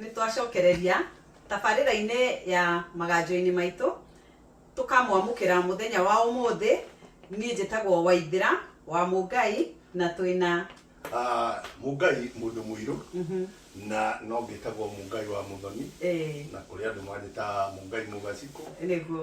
Nĩ twacokereria tabarĩra-inĩ ya maganjo-inĩ maitũ, tũkamwamũkĩra mũthenya wa ũmũthĩ. Niĩ njĩtagwo Waithĩra wa Mũngai na twĩna. Ah, Mũngai mũndũ mũirũ na no ngĩtagwo Mũngai wa Mũthoni, na kũrĩ andũ manjĩtaga Mũngai Mũgacikũ. Nĩguo.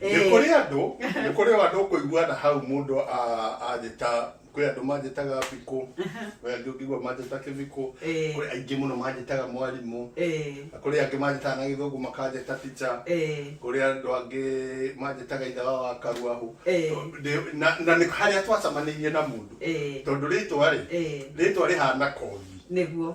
nĩ Eh. kũrĩ andũ nĩ kũrĩ o andũ ũkũigua na hau mũndũ a- anjĩta kwĩ andũ manjĩtaga bikũ kwĩ angĩ ũngĩigua manjĩta kĩbikũ Eh. kwĩ aingĩ mũno manjĩtaga mwarimũ Eh, na kũrĩ angĩ manjĩtaga na gĩthũngũ makanjĩta tica eh, kũrĩ andũ angĩ manjĩtaga ithe wa wakaruahu Eh. To- ndĩ- na na nĩ harĩa twacamanĩirie na mũndũ eh, tondũ rĩtwa rĩ eh, rĩtwa rĩhana kogi nĩguo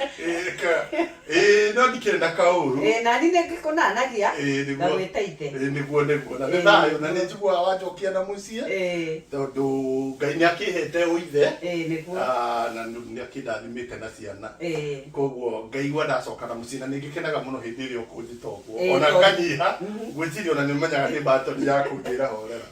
Ĩka. Ĩĩ, no ndikenda kaũru. Ĩĩ, nani nĩ ngĩkũnanagia, Ĩĩ, nĩguo- ngagwĩta ithe. Ĩĩ, nĩguo nĩguo na nĩ Ĩĩ, thayũ na nĩguo. nĩ njiguaga wanjokia na mũciĩ Ĩĩ, tondũ ngai nĩ akĩhete ũithe ĩĩ, nĩguo. Ah, na nĩ akĩndathimĩte na ciana Ĩĩ. koguo ngaigua ndacoka na mũciĩ na nĩ ngĩkenaga mũno hĩndĩ ĩrĩa ũkũnjĩta ũguo Ĩĩ, ona tondũ- nganyiha Mhm. ngwĩciria ona nĩ ũmenyaga nĩ mbatoni ya kũnjĩra horera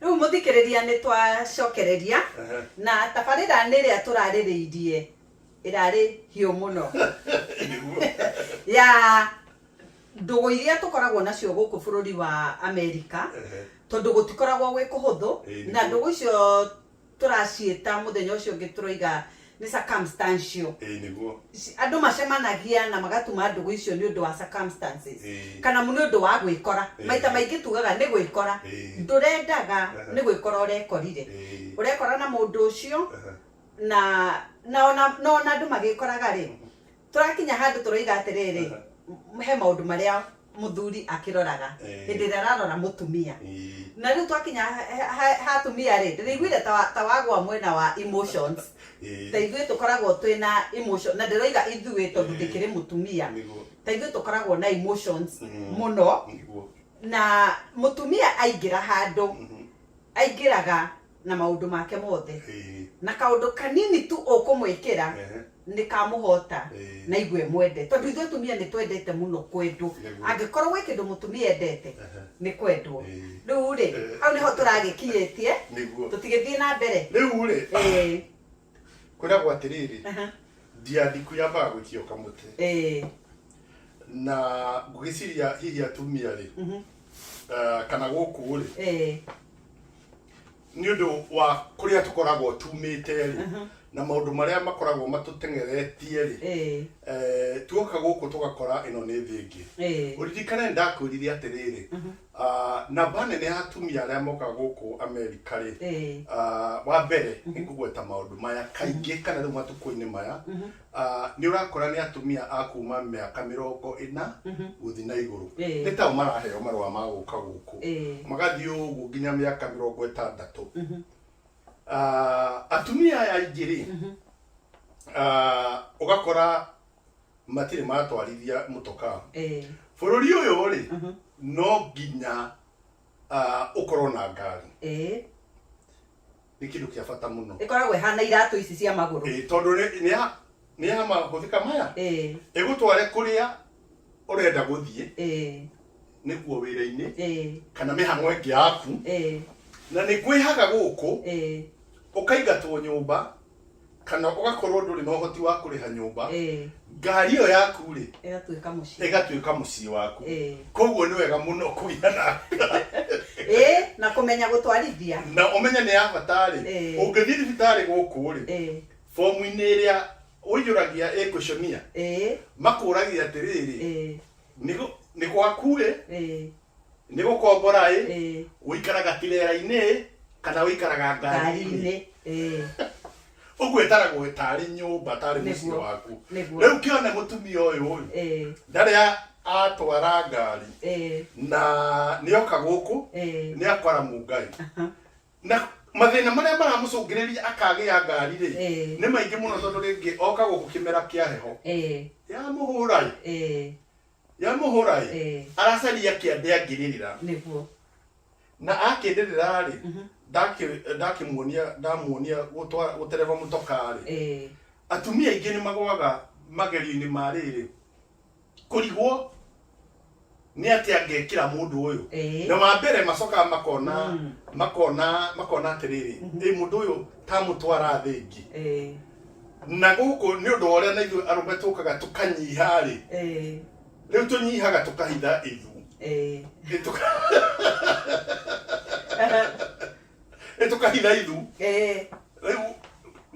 Rĩu mũthikĩrĩria nĩ twacokereria na tabarĩra nĩ ĩrĩa tũrarĩrĩirie ĩrarĩ hiũ mũno ya ndũgũ iria tũkoragwo nacio gũkũ bũrũri wa Amerika tondũ gũtikoragwo gwĩ kũhũthũ na ndũgũ icio Tũraciĩta, mũthenya ũcio ũngĩ tũroiga nĩ circumstantial. Ĩĩ nĩguo. Andũ macemanagia na magatuma ndũgũ icio nĩ ũndũ wa circumstances. Ĩĩ. Kana nĩ ũndũ wa gwĩkora. Ĩĩ. Maita maingĩ tugaga nĩ gwĩkora. Ĩĩ. Ndũrendaga, nĩ gwĩkora ũrekorire. Ĩĩ. Ũrekora na mũndũ ũcio, na, na ona, na ona andũ magĩkoraga-rĩ, Tũrakinya handũ tũroiga atĩrĩrĩ, Aha. m- he maũndũ marĩa mũthuri akĩroraga Eh. hĩndĩ ĩrĩa ararora mũtumia Ii. na rĩu twakinya ha- ha- ha- ha atumia rĩ ndĩraiguire ta wa- ta wagwa mwena wa emotions Ii. ta ithuĩ tũkoragwo twĩ na emotion na ndĩroiga ithuĩ tondũ Eh. ndĩkĩrĩ mũtumia Nĩguo. ta ithuĩ tũkoragwo na emotions Mm. mũno Nĩguo. na mũtumia aingĩra handũ Mhm. aingĩraga na maũndũ make mothe Ĩĩ. na kaũndũ kanini tu ũkũmwĩkĩra Ehe. nĩ kamũhota Ĩĩ. na igwe mwende tondũ ithuĩ atumia nĩ twendete mũno kwendwo Nĩguo. angĩkorwo gwĩ kĩndũ mũtumia endete Ehe. nĩ kwendwo Ĩĩ. rĩu rĩ Ĩĩ. hau nĩho tũragĩkinyĩtie Nĩguo. tũtigĩthiĩ na mbere rĩu rĩ Ĩĩ. kwĩragwo atĩrĩrĩ ndiathi kwi ambaga gũikia kamũtĩ eh. na ngũgĩciria hihi atumia rĩ mhm. eh, kana gũkũ rĩ eh. nĩ ũndũ wa kũrĩa tũkoragwo tumĩte rĩ mhm. na maũndũ marĩa makoragwo matũteng'eretie rĩ tuoka gũkũ tũgakora ĩno nĩ thĩ ĩngĩ ũririkane ndakwĩrire atĩrĩrĩ mhm. Ah, namba nene ya atumia arĩa moka gũkũ amerika rĩ Eh. ah, wa mbere nĩ kũgweta maũndũ maya kaingĩ kana rĩu matukũ-inĩ maya ah, nĩ ũrakora nĩ atumia a kuma mĩaka mĩrongo ĩna gũthiĩ na igũrũ Eh. nĩ tao maraheo marũa ma gũka gũkũ Eh. magathiĩ ũguo nginya mĩaka mĩrongo ĩtandatũ Ah, atumia aya aingĩ rĩ ah, ũgakora matirĩ matwarithia mũtokaa Eh, bũrũri ũyũ rĩ mhm, no nginya ah, ũkorwo na ngari eh. nĩ kĩndũ kĩa bata mũno ĩkoragwo ĩhana iratũ ici cia magũrũ Ĩĩ, tondũ nĩ- nĩ ya- nĩ ya mahũthĩka maya Eh, ĩgũtware kũrĩa ũrenda gũthiĩ eh, nĩguo wĩra-inĩ eh, kana mĩhang'o ĩngĩ yaku eh, na nĩ kwĩhaga gũkũ eh. ũkaingatwo nyũmba kana ũgakorwo ndũrĩ na ũhoti wa kũrĩha nyũmba eh, ngari ĩyo yaku rĩ ĩgatuĩka mũciĩ ĩgatuĩka mũciĩ waku Eh. koguo nĩ wega mũno kũgĩa na Eh, na kũmenya gũtwarithia na ũmenye nĩ ya bata rĩ Eh. ũngĩthiĩ thibitarĩ gũkũ rĩ Eh, fomu-inĩ ĩrĩa ũiyũragia ĩkuconia eh, makũragia atĩrĩrĩ eh, Nĩgũ- nĩ gwaku-ĩ ĩĩ nĩ gũkombora-ĩ ĩĩ ũikaraga tirera-inĩ kana ũikaraga ngari-inĩ ngari-inĩ ĩĩ ũguo ĩtaragwo ĩtarĩ nyũmba tarĩ mũciĩ Nĩguo. waku Nĩguo. rĩu kĩone mũtumia ũyũ-ĩ ĩĩ ndarĩ a- atwara ngari ĩĩ na nĩoka gũkũ ĩĩ nĩakora mũngai na mathĩna marĩa maramũcũngĩrĩria akagĩa ngari rĩ Eh. nĩ maingĩ mũno tondũ rĩngĩ oka gũkũ kĩmera kĩa heho Eh, ya mũhũra ĩ eh, ya mũhũra ĩ eh, aracaria kĩande angĩrĩrĩra nĩguo na akĩrĩrĩra rĩ Mhm. ndakĩ- ndakĩmuonia ndamuonia gũtwa- gũtereba mũtoka rĩ Eh, atumia aingĩ nĩ magwaga magerio-inĩ ma rĩrĩ kũrigwo nĩ atĩ angekĩra mũndũ ũyũ Eh. na wa mbere macokaga makona Mm. makona makona atĩrĩrĩ Mhm. ĩ mũndũ ũyũ tamũtwara thĩ ĩngĩ Eh, na gũkũ nĩ ũndũ wa ũrĩa na ithuĩ arũme tũkaga tũkanyiha rĩ eh, rĩu tũnyihaga tũkahitha ithu eh. Ĩ, tũka- ĩtũkahitha ithu Eh, rĩu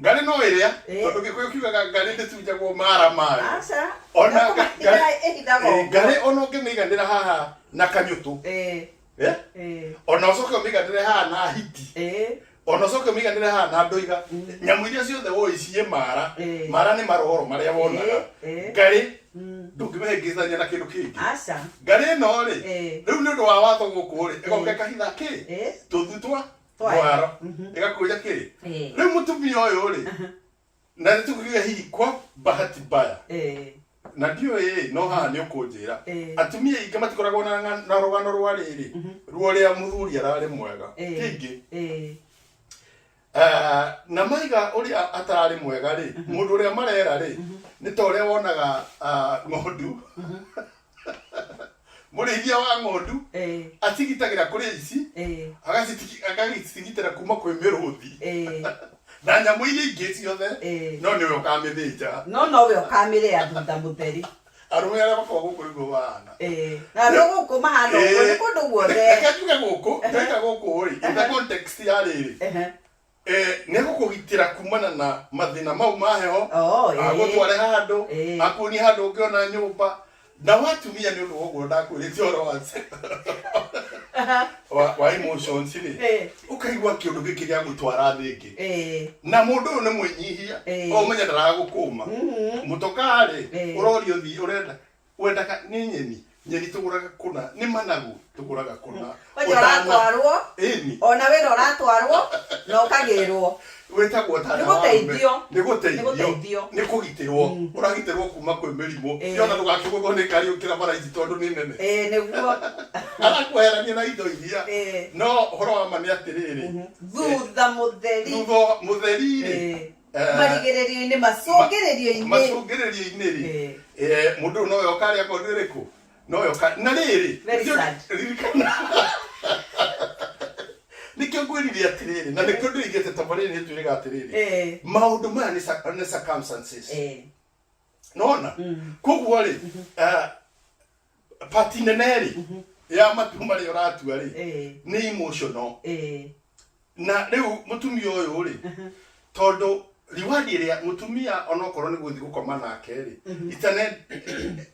ngarĩ no ĩrĩa Eh. tondũ gĩkũyũ kiugaga ngarĩ ndĩtunjagwo mara mayo aca Ona Nĩ kũmahitha ngarĩ- ĩhithagwo Eh, ngarĩ ona ũngĩmĩiganĩra haha na kanyũtũ Eh, eh? eh, ona ũcoke ũmĩiganĩre haha na hiti eh, ona ũcoke ũmĩiganĩre haha na ndũiga Mm. nyamũ iria ciothe woĩ ciĩ mara Eh. mara nĩ maroro marĩa wonaga Eh, eh. ngarĩ Mm. ndũngĩmĩhĩngĩcithania na kĩndũ kĩngĩ aca ngarĩ ĩno rĩ Eh. rĩu nĩ ũndũ wa watho gũkũ rĩ ĩgoka Eh. ĩkahitha kĩ Eh. tũthu twa Twa- mwaro Mhm. ĩgakuria kĩrĩ Eh. rĩu mũtumia ũyũ rĩ na nĩ tũkuria hihi kwa bahati mbaya Eh. na ndiũĩ no haha nĩ ũkũnjĩra Eh. atumia aingĩ matikoragwo na ng'a- na rũgano rwa rĩrĩ ruo rĩa mũthuri ararĩ mwega Eh. kĩngĩ Eh. Ah, na maiga ũrĩa atararĩ mwega rĩ mũndũ ũrĩa marera rĩ nĩ ta ũrĩa wonaga ah, ng'ondu mũrĩithia wa ng'ondu Eh, acigitagĩra kũrĩ ici eh, agacitigi- agagĩcigitĩra kuma kwĩ mĩrũthi eh, na nyamũ iria ingĩ ciothe eh. no nĩwe ũkamĩthĩnja no nowe ũkamĩrĩa thutha mũtheri arũme arĩa makoragwo gũkũ nĩguo mahana Eh, na no gũkũ mahana ũguo nĩ kũndũ guothe reke tuge gũkũ reka gũkũ rĩ in the context ya rĩrĩ Ehe. eh, nĩ gũkũgitĩra kumana na mathĩna mau ma heho Oh, eh. agũtware handũ Eh. akuonie handũ ũngĩona nyũmba na watumia nĩ ũndũ woguo ndakwĩrĩte ũhoro wa wa- wa emotions rĩ Eh. ũkaigua kĩũndũ gĩkĩ gĩa gũtwara thĩ ĩngĩ Eh, na mũndũ ũyũ nĩ mwĩnyihia Eh. omenya ndaragũkũma mhm. mũtokarĩ Eh. ũrorio thi ũrenda wendaga nĩ nyeni nyeni tũgũraga kũna nĩ managu tũgũraga kũna Kwanja ũratwarwo ĩni ona wĩra ũratwarwo na ũkagĩrwo wĩtagwo ta Nĩ gũteithio. nĩ Nĩ gũteithio gũteithio. nĩ kũgitĩrwo ũragitĩrwo kuma kwĩ mĩrimũ Ĩĩ. yona ndũgakĩgũthwo nĩ ngari ũkĩra bara ici tondũ nĩ nene ĩĩ nĩguo arakweherania na indo iria Ĩĩ. no ũhoro wa ma nĩ atĩrĩrĩ thutha mũtheri thutha wa mũtheri-rĩ Ĩĩ. eh, marigĩrĩrio-inĩ macũngĩrĩrio-inĩ macũngĩrĩrio-inĩ-rĩ Ĩĩ. eh, mũndũ ũyũ nowe ũkarĩa ng'ondu ĩrĩkũ noyo ka na riri Very nĩkĩo- sad. ririkana nikio ngwirire atiriri na nikio ndirigite ta mariri ni twirega atiriri Eh. maundu maya ni sa- ni circumstances Eh. nona koguo rĩ eh, pati nene rĩ ya matu marĩa ũratua rĩ Eh. nĩ emotional Eh. na rĩu mũtumia ũyũ rĩ tondũ riwadi ĩrĩa mũtumia onokorwo nĩ gũthiĩ gũkoma nake rĩ itane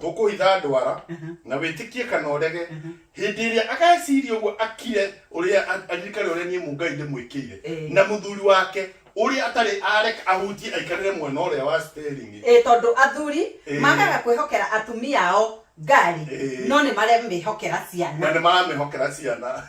tũkũhitha ndwara na wĩtĩkie kana ũrege hĩndĩ ĩrĩa ageciria ũguo akire ũrĩa a- aririkane ũrĩa niĩ mungai ndĩmwĩkĩire Eh. na mũthuri wake ũrĩa atarĩ areka ahutie aikarĩre mwena ũrĩa wa steringi ĩ tondũ athuri Ĩĩ. magaga kwĩhokera atumia ao ngari Ĩĩ. no nĩ maremĩhokera ciana na nĩ maramĩhokera ciana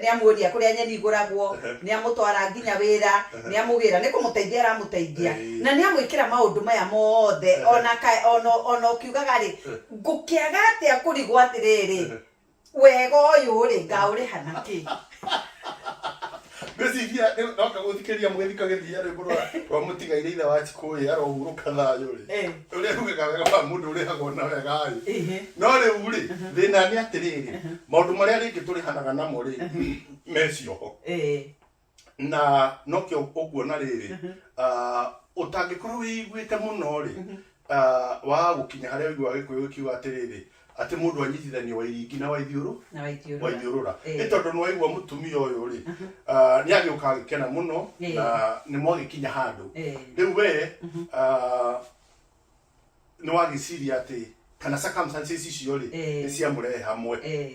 Nĩamũendia kũrĩa nyeni igũragwo, nĩamũtwara nginya wĩra, nĩamũgĩra, nĩ kũmũteithia aramũteithia, na nĩamwĩkĩra maũndũ maya mothe, o na ka, o na, o na ũkiugaga-rĩ, ngũkĩaga atĩa kũrigwo atĩrĩrĩ, wega ũyũ-rĩ, ngaũrĩha na kĩ? Ndĩciria rĩu ndoka gũthikĩria mũgĩthikagĩria rwĩmbo rwa rwa mũtigaire ithe wa Chikũyĩ arohurũka thayũ rĩ. Eh. Ũrĩa rugaga wega wa mũndũ ũrĩhagwo na wega rĩ. Ehe. No rĩu rĩ, thĩna nĩ atĩrĩrĩ, maũndũ marĩa rĩngĩ tũrĩhanaga namo rĩ, me cioho. Eh. Na nokĩo ũkuona rĩrĩ, ah, ũtangĩkorwo wĩiguĩte mũno rĩ, ah, wa gũkinya harĩa ũiguaga Gĩkũyũ gĩkiuga atĩrĩrĩ, Atĩ mũndũ wa nyitithanio wa iringi na wa ithiũrũ, na wa ithiũrũra. wa ithiũrũra. Ĩĩ. Nĩ tondũ nĩ waigua mũtumia ũyũ rĩ, ah, nĩ agĩũka agĩkena mũno Ĩĩ. na nĩ mwagĩkinya handũ. Ĩĩ. Rĩu we ah, nĩ wagĩciria atĩ kana circumstances icio rĩ, Ĩĩ. nĩ ciamũrehe hamwe. Ĩĩ.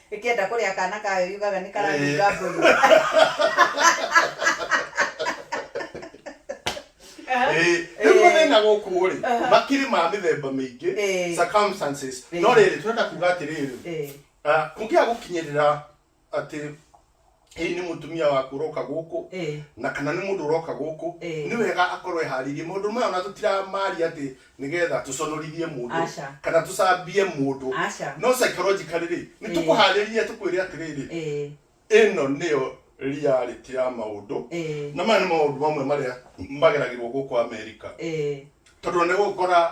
Ĩkĩenda kũrĩa kaana kayo yugaga nĩ karanunga mbũri. Ĩĩ, rĩu mathĩna gũkũ rĩ makirĩ ma mĩthemba mĩingĩ Ĩĩ. circumstances Ĩĩ. no rĩrĩ tũrenda kuga atĩrĩrĩ Ĩĩ. ah, kũngĩaga gũkinyĩrĩra atĩ hihi nĩ mũtumia waku ũroka gũkũ Eh. na kana nĩ mũndũ ũroka gũkũ Eh. nĩ wega akorwo eharĩirie maũndũ maya ona tũtiramaria atĩ nĩgetha tũconorithie mũndũ Aca. kana tũcambie mũndũ Aca. no psychologically rĩ nĩ Eh. tũkũharĩrie tũkwĩre atĩrĩrĩ Eh. ĩno nĩyo reality ya maũndũ Eh. na maya nĩ maũndũ mamwe marĩa mageragĩrwo gũkũ amerika Eh. tondũ nĩ ũgũkora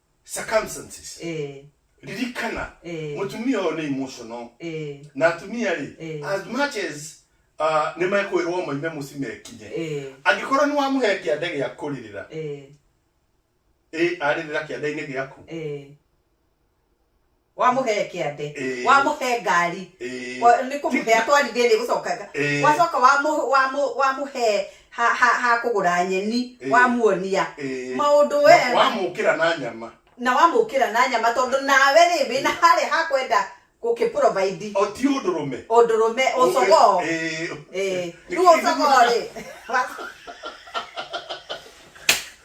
circumstances eh, ririkana Eh. mutumia uyu ni emotional eh, na atumia rĩ Eh. as much as uh, nĩ mekwĩrwo maime mũci mekinye eh, angĩkorwo nĩ wamũhe kĩande gĩa kũrĩrĩra eh, ĩ arĩrĩra kĩande-inĩ gĩaku eh, wamũhe kĩande Ĩĩ. wamũhe ngari Ĩĩ. wa- nĩ kũmũhe atwarithie nĩ gũcoka Ĩĩ. wacoka wamũ- wamũ- wamũhe ha- ha ha kũgũra nyeni Ĩĩ. wamuonia Ĩĩ. maũndũ we Na wamũkĩra na nyama na wamũkĩra na nyama tondũ nawe rĩ wĩna harĩa ha kwenda gũkĩprovaidi o ti ũndũ rũme ũndũrũme ũcogoo Ĩĩ. Ĩĩ. Nĩ rĩu kĩrĩgithia ũcogoo na- rĩ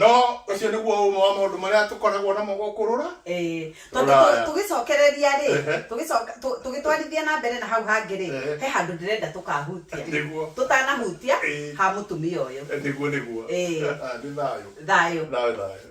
no ũcio nĩguo ũmwe wa maũndũ marĩa tũkoragwo namo gũkũ rũra Eh, tondũ Rũraya. tũ- tũgĩcokereria rĩ Ehe. tũgĩcoka- tũ- tũgĩtwarithia na mbere na hau hangĩ rĩ Ehe. he handũ ndĩrenda tũkahutia Nĩguo. tũtanahutia Eh. ha mũtumia ũyũ nĩguo nĩguo Eh. Ah, nĩ thayũ thayũ thayũ thayũ